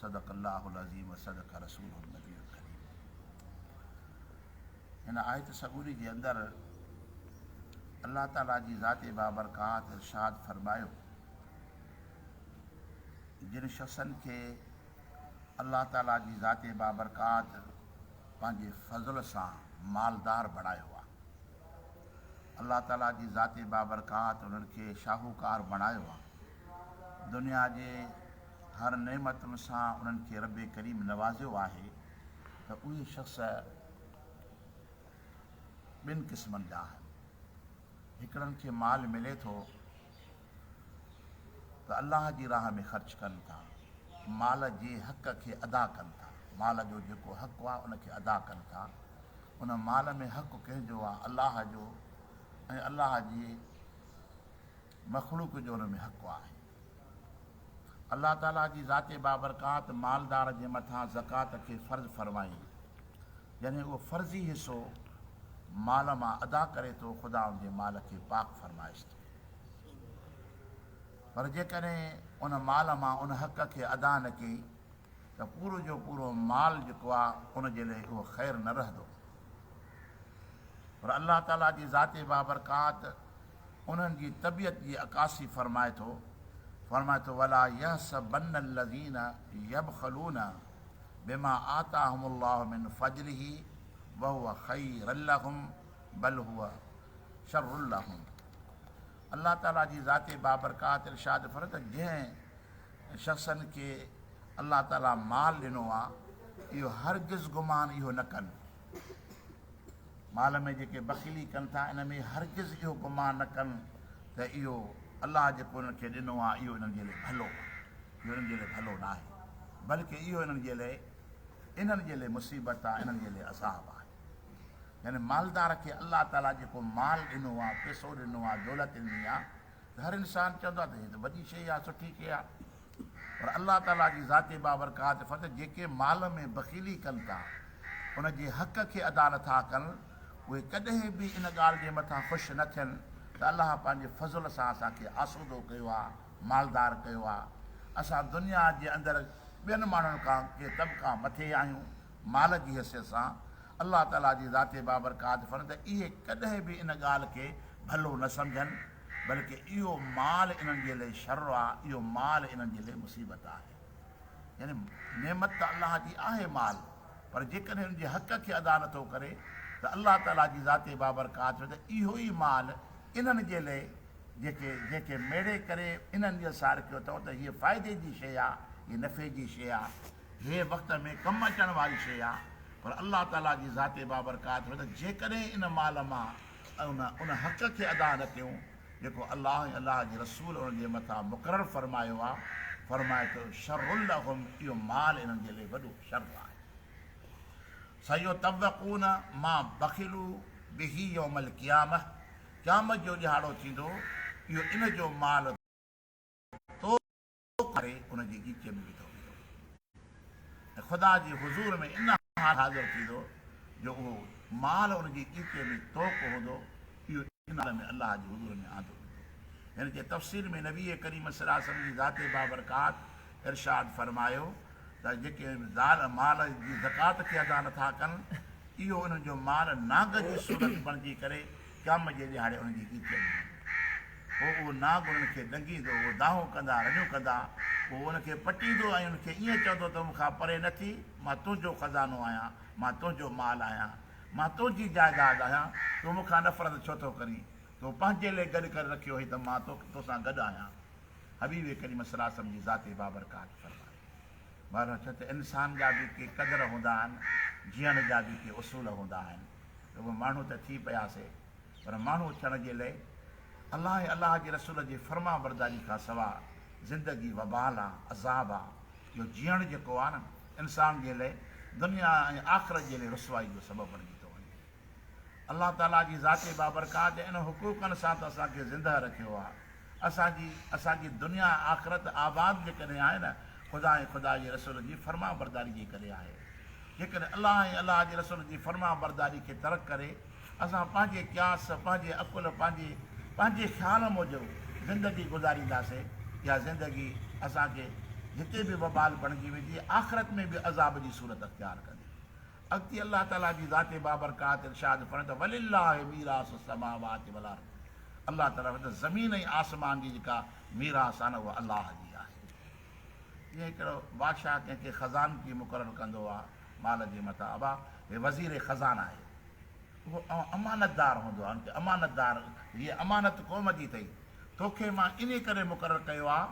صدق الله العظيم و صدق رسوله النبي الڪريم هن آيت سڳوري جي اندر الله تعالي جي ذات بابرڪات ارشاد فرمايو جن شخصن کي الله تعالي جي ذات بابرڪات پنهنجي فضل سان مالدار بڻايو آ الله تعالي جي ذات بابرڪات انهن کي شاهوڪار بڻايو آ دنيا جي هر نعمتن سان انهن کي رب ڪريم نوازيو آهي ته اهي شخص ٻن قسمن جا آهن، هڪڙن کي مال ملي ٿو ته الله جي راهه ۾ خرچ ڪن ٿا، مال جي حق کي ادا ڪن ٿا، مال جو جيڪو حق آهي ان کي ادا ڪن ٿا، ان مال ۾ حق ڪنهن جو آهي؟ الله جو ۽ الله جي. مخلوق جو ان ۾ حق آهي. الله تعاليٰ جي ذات بابرڪات مالدار جي مٿان زڪوات کي فرض فرمائي، جڏهن اهو فرضي حصو مال مان ادا ڪري ٿو، خدا ان جي مال کي پاڪ فرمائيس ٿو. پر جيڪڏهن ان مال مان ان حق کي ادا نه ڪئي ته پورو جو پورو مال جيڪو آهي ان جي لئي اهو خير نه رهندو. پر الله تعاليٰ جي ذات بابرڪات انهن جي طبيعت جي عڪاسي فرمائي ٿو، فرمائي ٿو، ولا يحسبن الذين يبخلون بما آتاهم الله من فضله وهو خيرا لهم بل هو شر لهم الله تعاليٰ جي ذات بابرڪات ارشاد فرمائي ٿو ته جنهن شخصن کي الله تعاليٰ مال ڏنو آهي اهو هرگز گمان اهو نه ڪن مال ۾ جيڪي بخيلي ڪن ٿا ان ۾ هرگز اهو گمان نه ڪن ته اهو الله جيڪو انهن کي ڏنو آهي اهو انهن جي لئه ڀلو آهي. اهو انهن جي لئه ڀلو ناهي بلڪ اهو انهن جي لئه انهن جي لئه مصيبت آهي، انهن جي لئه عذاب آهي. يعني مالدار کي الله تعاليٰ جيڪو مال ڏنو آهي، پيسو ڏنو آهي، دولت ڏني آهي ته هر انسان چوندو آهي ته هي ته وڏي شيء آهي، سٺي شيء آهي. پر الله تعاليٰ جي ذات بابرڪات ڦت جيڪي مال ۾ بخيلي ڪن ٿا، ان جي حق کي ادا نٿا ڪن، اهي ڪڏهن به ان ڳالهه جي مٿان خوش نه ٿين ته الله پنهنجي فضل سان اسان کي آسودو ڪيو آهي، مالدار ڪيو آهي. اسان دنيا جي اندر ٻين ماڻهن کان ڪي طبقا مٿي آهيون مال جي حيثيت سان. الله تعاليٰ جي ذات بابرڪات ڦت اهي ڪڏهن به ان ڳالهه کي ڀلو نه سمجهن. بلڪ اهو مال انهن جي لئي شر آ، اهو مال انهن جي لئي مصيبت آهي. يعني نعمت ته الله جي آهي مال، پر جيڪڏهن ان جي حق کي ادا نه ٿو ڪري ته الله تعاليٰ جي ذات بابرڪات ۾ ته اهو ئي مال انهن جي لئي جيڪي جيڪي ميڙي ڪري انهن جي سار ڪيو اٿئون ته هيء فائدي جي شيء آ، هيء نفعي جي شيء آ، هيء وقت ۾ ڪم اچڻ واري شيء آ، پر الله تعاليٰ جي ذات بابرڪات ۾ ته جيڪڏهن ان مال مان ۽ ان حق کي ادا نه ڪيون جيڪو الله ۽ الله جي رسول انهن جي مٿان مقرر فرمايو آهي، فرمائي ٿو، شر لهم، اهو مال انهن جي لئه وڏو شر آهي. سيطوقون ما بخلوا به يوم القيامة، قيامت جو ڏهاڙو ٿيندو، اهو ان جو مال تول. اهو ڪري ان جي ڳچيء ۾ وڌو ويندو ۽ خدا جي حضور ۾ ان حال حاضر ٿيندو جو اهو مال ان جي ڳچيء ۾ توڪ هوندو، اهو ان حال ۾ الله جي حضور ۾ آندو ويندو. هن جي تفسير ۾ نبيء ڪريم صلي الله عليه وسلم جي ذات بابرڪات ارشاد فرمايو ته جيڪي زال مال جي زڪوات کي ادا نٿا ڪن، اهو انهن جو مال نانگ جي صورت بڻجي ڪري ڄام جي ڏهاڙي انهن جي هيء چئي هئي. پوء اهو ناگ انهن کي ڏنگيندو، اهو دانهون ڪندا، رڙيون ڪندا، اهو انهن کي پٽيندو ۽ انهن کي ائين چوندو ته مون کان پري نه ٿي، مان تنهنجو خزانو آهيان، مان تنهنجو مال آهيان، مان تنهنجي جائداد آهيان، تون مون کان نفرت ڇو ٿو ڪرين؟ تون پنهنجي لئه گڏ ڪري رکيو هئي ته مان تو سان گڏ آهيان. حبيب ڪريم صلعم جي ذات بابرڪات فرمائي. ٻاهران چئه ته انسان جا به ڪي قدر هوندا آهن، جيئڻ جا به ڪي اصول هوندا آهن، رڳو ماڻهو ته ٿي پيا سي پر ماڻهو ٿيڻ جي لئه الله ۽ الله جي رسول جي فرمانبرداري کان سوا زندگي وبال آ، عذاب آ، اهو جيئڻ جيڪو آ نه انسان جي لئه دنيا ۽ آخرت جي لئه رسوائي جو سبب بڻجي ٿو وڃي. الله تعاليٰ جي ذات بابرڪات ۽ انهن حقوقن سان ته اسان کي زندهه رکيو آ. اسان جي اسان جي دنيا ۽ آخرت آباد جيڪڏهن آهي نه خدا ۽ خدا جي رسول جي فرمانبرداري جي ڪري آهي. جيڪڏهن الله ۽ الله جي رسول جي فرمانبرداري کي ترڪ ڪري اسان پنهنجي قياس، پنهنجي عقل، پنهنجي پنهنجي خيال موجب زندگي گذارينداسين اها زندگي اسان کي هتي به وبال بڻجي ويندي آخرت ۾ به عذاب جي صورت اختيار ڪندي. اڳتي الله تعاليٰ جي ذات بابرڪات ارشاد فرمائي ته ولله ميراث السماوات والارض الله تعاليٰ فرمائي ته زمين ۽ آسمان جي جيڪا ميراث آهي نه اها الله جي آهي جيئن هڪڙو بادشاهه ڪنهن کي خزانچي مقرر ڪندو آهي مال جي متان ابا هي وزير خزان آهي اهو اوهان امانتدار هوندو آهي ان کي امانتدار هيء امانت قوم جي اٿئي توکي مان انهي ڪري مقرر ڪيو آهي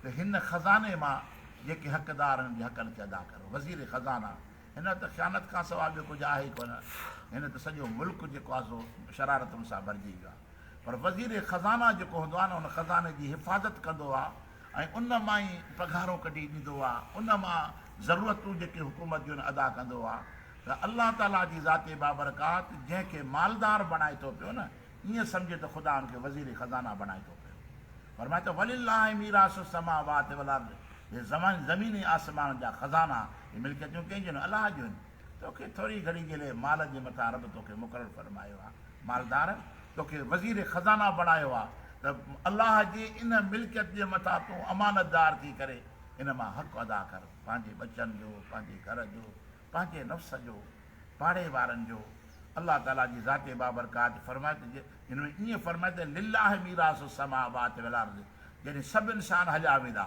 ته هن خزاني مان جيڪي حقدار آهن انهن جي حقن کي ادا ڪر وزير خزان آهي هن وٽ ته خيانت کانسواء ٻيو ڪجهه آهي ئي ڪونه. هن ته سڄو ملڪ جيڪو آهي سو شرارتن سان ڀرجي ويو آهي. پر وزير خزانه جيڪو هوندو آهي نه ان خزاني جي حفاظت ڪندو آهي ۽ ان مان ئي پگهارون ڪڍي ڏيندو آهي. ان مان ضرورتون جيڪي حڪومت جون ادا ڪندو آهي. ته الله تعاليٰ جي ذات بابرڪات جنهن کي مالدار بڻائي ٿو پيو نه ائين سمجهه ته خدا ان کي وزير خزانه بڻائي ٿو پيو. فرمائي ٿو ولله ميراث السماوات والارض هي زمين ۽ آسمانن جا خزانا هي ملڪيتون ڪنهن جون آهن؟ الله جون آهن. تو کي ٿوري گهڙي جي لئه مال جي مٿان رب تو کي مقرر فرمايو آهي، مالدار، تو کي وزير خزانه بڻايو آهي ته الله جي ان ملڪيت جي مٿان تون امانتدار ٿي ڪري ان مان حق ادا ڪر، پنهنجي ٻچن جو، پنهنجي گهر جو، پنهنجي نفس جو، پاڙي وارن جو. الله تعاليٰ جي ذات بابرڪات فرمائي ته جي هن ۾ ائين فرمائي ته لله ميراث السماوات والارض جڏهن سڀ انسان هليا ويندا.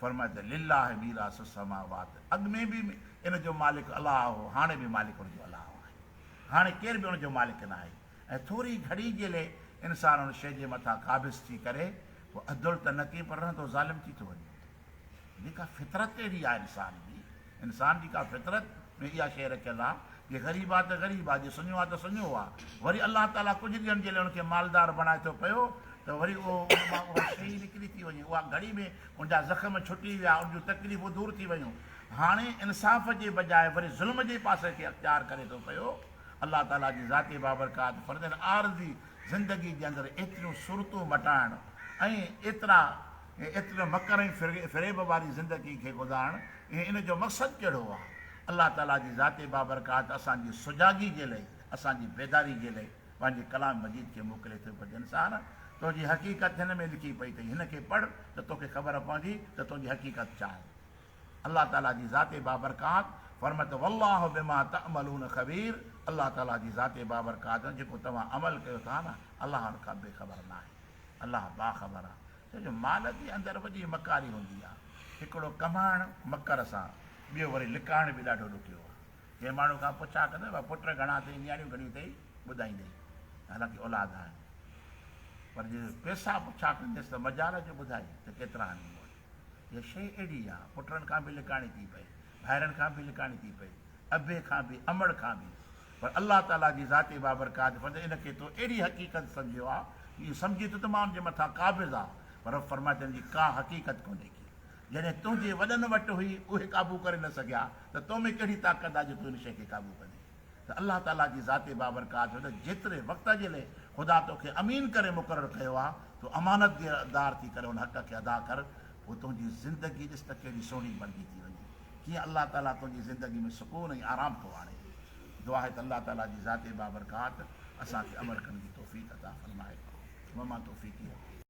فرمايو ته لله ميراث السماوات اڳ ۾ به ان جو مالڪ الله هو هاڻي به مالڪ ان جو الله آهي هاڻي ڪير به ان جو مالڪ ناهي ۽ ٿوري گهڙي جي لئي انسان ان شيء جي مٿان قابض ٿي ڪري پوء عدل ته نه ڪئين پر رهندو ظالم ٿي ٿو وڃي جيڪا فطرت اهڙي آهي انسان جي انسان جي ڪا فطرت ۾ اها شيء رکيل آ جي غريب آ ته غريب آ جي سڃو آ ته سڃو آ وري الله تعاليٰ ڪجهه ڏينهن جي لاء ان کي مالدار بڻائي ٿو پيو ته وري اهو ان مان اها شيء ئي نڪري ٿي وڃي اها گهڙي ۾ ان جا زخم ڇٽي ويا ان جون تڪليفون دور ٿي ويون هاڻي انصاف جي بجاء وري ظلم جي پاسي کي اختيار ڪري ٿو پيو الله تعاليٰ جي ذاتي بابرڪات فرضن عارضي زندگي جي اندر ايتريون صورتون مٽائڻ ۽ ايترا ۽ ايتري مڪر ۽ فريب واري زندگي کي گذارڻ ۽ ان جو مقصد ڪهڙو آهي؟ الله تعاليٰ جي ذات بابرڪات اسان جي سجاڳي جي لئي، اسان جي بيداري جي لئي پنهنجي ڪلام مجيد کي موڪلي ٿو ته انسان! تنهنجي حقيقت هن ۾ لکي پئي اٿئي، هن کي پڙهه ته توکي خبر پوندي ته تنهنجي حقيقت ڇا آهي؟ الله تعاليٰ جي ذات بابرڪات فرمائي ٿو والله بما تعملون خبير الله تعاليٰ جي ذات بابرڪات جيڪو توهان عمل ڪيو ٿا نه، الله ان کان بي خبر ناهي. الله باخبر آ ڇو جو مال جي اندر وڏي مڪاري هوندي آ. هڪڙو ڪمائڻ مڪر سان ٻيو وري لڪائڻ به ڏاڍو ڏکيو آ. جنهن ماڻهو کان پڇا ڪندو ڀلا پٽ گهڻا اٿئي نياڻيون گهڻيون اٿئي ٻڌائيندئي حالانڪه اولاد آهن پر جي پيسا پڇا ڪنديس ته مجال جو ٻڌائي ته ڪيترا آهن مون وٽ. اها شيء اهڙي آ پٽن کان به لڪائڻي ٿي پئي ڀائرن کان به لڪاڻي ٿي پئي، ابي کان به، امڙ کان به. پر الله تعاليٰ جي ذات بابرڪات فضل ان کي تو اهڙي حقيقت سمجهيو آ جو اهو سمجهي ٿو ته مان ان جي مٿان قابض آ پر رب فرمائي ٿو ان جي ڪا حقيقت ڪونهي ڪي جڏهن تنهنجي وڏن وٽ هئي اهي قابو ڪري نه سگهيا ته تو ۾ ڪهڙي طاقت آ جو تون ان شيء کي قابو ڪندين. ته الله تعاليٰ جي ذات بابرڪات هو ته جيتري وقت جي لئه خدا تو کي امين ڪري مقرر ڪيو آهي، تون امانتدار ٿي ڪري ان حق کي ادا ڪر، پوء تنهنجي زندگي ڏس ته ڪيڏي سهڻي بڻجي ٿي وڃي. ڪيئن الله تعاليٰ تنهنجي زندگي ۾ سڪون ۽ آرام ٿو آڻي. دعا آهي ته الله تعاليٰ جي ذات بابرڪات اسان کي عمل ڪرڻ جي توفيق عطا فرمائي. وما توفيقي.